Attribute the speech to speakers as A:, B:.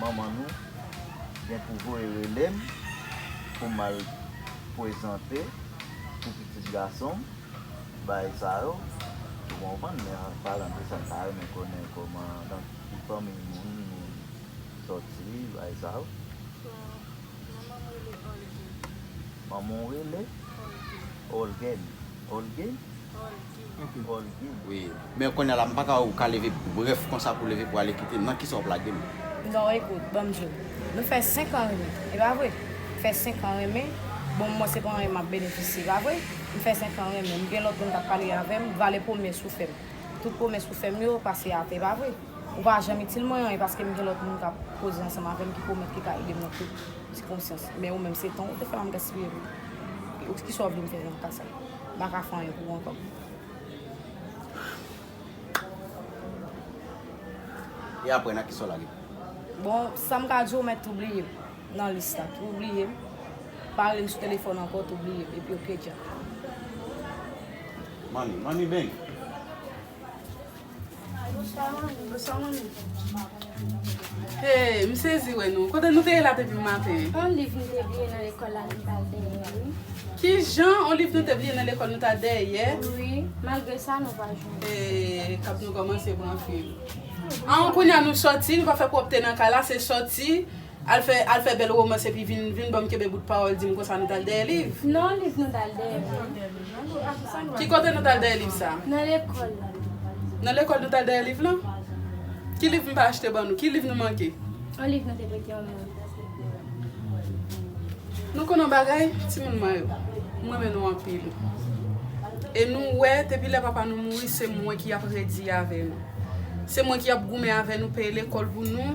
A: Manman nou gen pou voye rele m pou m al pwezante pou pitit gason m bay sa yo. Ou konprann? Men an palan de sa, m ta renmen konnen kòman, nan ki fanmiy moun nou soti bay sa yo. Manman m rele Olguin. Manman w rele? Olguin. Olguin.
B: Olguin? Olguin. Olguin. Wi. Men kounye a la, m pa ka wè ou ka leve brèf konsa pou leve pou ale kite m. Nan kisa wap lage m? Non, ekout,
C: banm di w. Nou fè 5 an renmen, e pa vre? M fè 5 an renmen, bon mwen se pa anyen map benefisye, e pa vre? M fè 5 an renmen, m gen lòt moun kap pale avè m, vale pwomès ou fè m. Tout pwomès ou fè m yo pase atè, e pa vre? Ou pa janm itil mwen anyen paske m gen lòt moun k ap koze ansanm avè m ki pwomèt ki ka ede m nan tout sikonstans. Men ou menm se tan ou te fè m ap gaspiye pou ou. Ki sa ou vle m fè nan ka sa? M pa ka fè anyen pou ou ankò.
B: E aprè nan ki sa w lage? Bon,
C: sa m ka di w mèt tou bliye m nan lis la. Tou bliye m. Pa rele m sou telefòn ankò, tou bliye m. Epi ok dja.
B: Manmi, manmi beng! Bonswa manmi, bonswa
D: manmi. Hey, m sezi wè nou. Kote nou te ye la depi m maten? On liv nou te bliye
E: nan lekòl la nou t al dèyè a wi. Kijan?
D: On liv nou te bliye nan lekòl nou t al dèyè? Wi, malgre
E: sa nou pa jwenn. Hey, kap nou
D: kòmanse pran fil. An, kounya nou sòti, nou pa fè pwòpte nan kay la, se sòti. Al fè al fè bèl romans epi vin vin banm kenbe bout pawòl dim konsa nou tal dèyè liv. Non liv nou tal
E: dèyè non. Ki kote nou tal
D: dèyè liv sa? Nan lekòl
E: la. Nan
D: lekòl nou tal dèyè liv lan? Ki liv m pa achte ban nou? Ki liv nou manke? On liv nou te prete
E: on moun.
D: Nou konn on bagay timoun mwen yo? M renmen nou anpil. E nou wè depi lè papa nou mouri se mwen ki ap redi avè nou. Se mwen ki ap goumen avè nou peye lekòl pou nou.